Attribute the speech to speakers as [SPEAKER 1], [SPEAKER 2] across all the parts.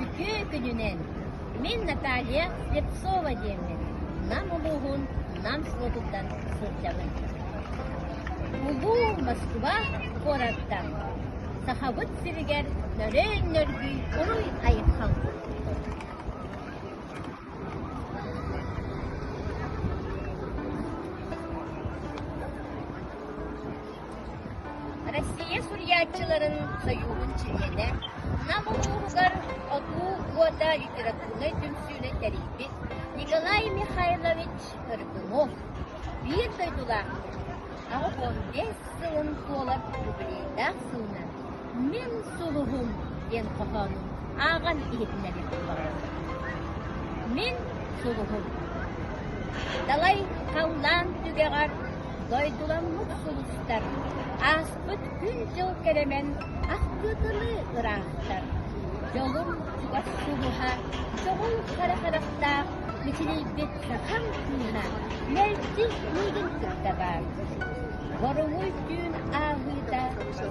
[SPEAKER 1] Үтүө күнүнэн! Мин Наталья Слепцова диэммин. Нам улууһун Нам суотуттан сылдьабын. Улуу Москва куораттан. Сахабыт сиригэр нөрөөн нөргүй уруй айхалбыт Россия суруйааччыларын сойууһун чилиэнэ Нам улууһугар Отуу уота литературнай түмсүүнү тэрийбит Николай Михайлович Соргунов биир дойдулаах аҕыс уон биэс сылын туолар юбилейдаах сылынан «Мин сулуһум» диэн хоһоонун ааҕан иһитиннэриэхпин баҕарабын. «Мин сулуһум» далай халлаан түгэҕэр дойдуламмыт сулустар ааспыт күн-дьыл кэрэмэн ахтыытылыы ыраахтар дьолум чугас сулуһа чоҕул харахарахтаах мичилийбит Саха массыына мэлдьи миигин кытта баар. Боруҥуй түүн ааһыыта,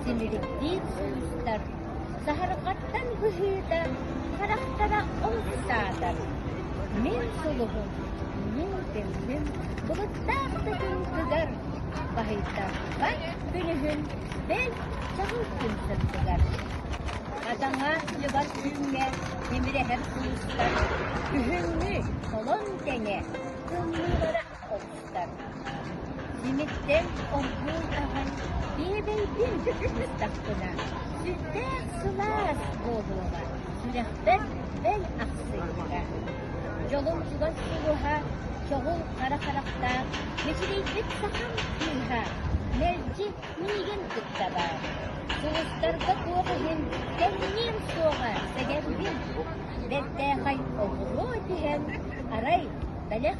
[SPEAKER 1] симирдиир куустар, саһарҕаттан быһыыта, харахтара омсаатар. Мин сулубум, мин тымным былыттаах тытыытыгар, баһыйтарбай күнүһүн бэл чаҕыл күн тыттыгар. Атаҥа лыбас түүҥҥэ Тимирэһэр кулуустар күһүҥҥү холон тэҥэ тымныылара охтор. Тимиртэн оргууй аһан биэбэйдин дьүкүстүстахпына, сүрдээх сылаас буолуоҕа, сүрэхпэр бэл ахсыйда. Дьолум чугас кулуһа, чоҕул хара харахтаах, мичилийбит сахам кыыһа, мэлдьи миигин кытта баар сулустарга туох иһин кэмниэм суоҕа сэгэрбин бэртээхэй оҕуруо түһэн арай бэлэх